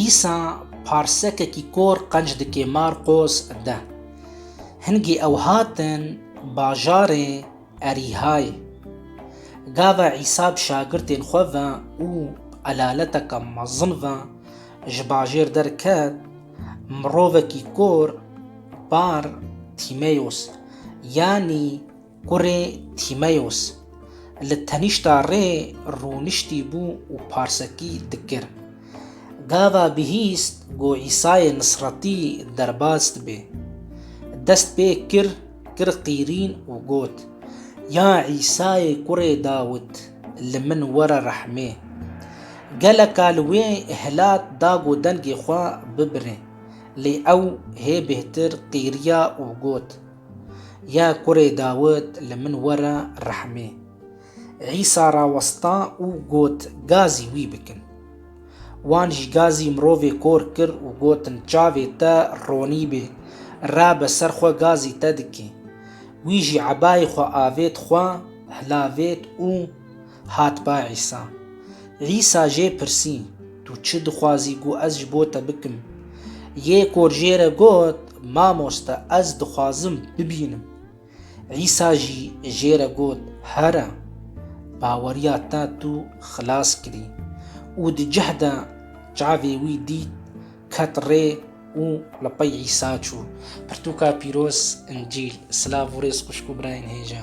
Îsa parsekekî kor qenc dike Marqos de. Hingî ew hatin bajarê Erîhayê. Gava Îsa bi şagirtên xwe ve û bi elaleteke mezin ve ji bajêr derket, mirovekî kor par Tîmeyos, yanî Kurê Tîmeyos li tenîşta rê rûniştî bû û parsekî dikir. Gava bihîst ku Îsayê Nisretî derbas dibe. Dest pê kir, kir qîrîn û got, Ya Îsayê kurê Dawit, li min were rehmê. Geleka li wê hilat da ku dengê xwe bibire, lê ew hê bêhtir qîriya û got, Ya kurê Dawid li min were rehmê. Îsa rawesta û got gazî wî bikin. Wan jî gazî mirovê kor kir û gotin çavê te ronî bê, rabe ser xwe gazî te dikê. Wî jî ebayê xwe avêt xwe, hilavêt û Hat ba Îsa. Îsa jê pirsî, Tu çi dixwazî ku ez ji bo te bikim? Yê kor jê re got, Mamoste, ez dixwazim bibînim. Îsa jî jê re got, Here, baweriya te tu xilas kirî. Û di cih de çavê wî dît, ket rê û li pey Îsa çû. Pirtûka pîroz, Încîl. Silav û rêz xwişk û birayên hêja.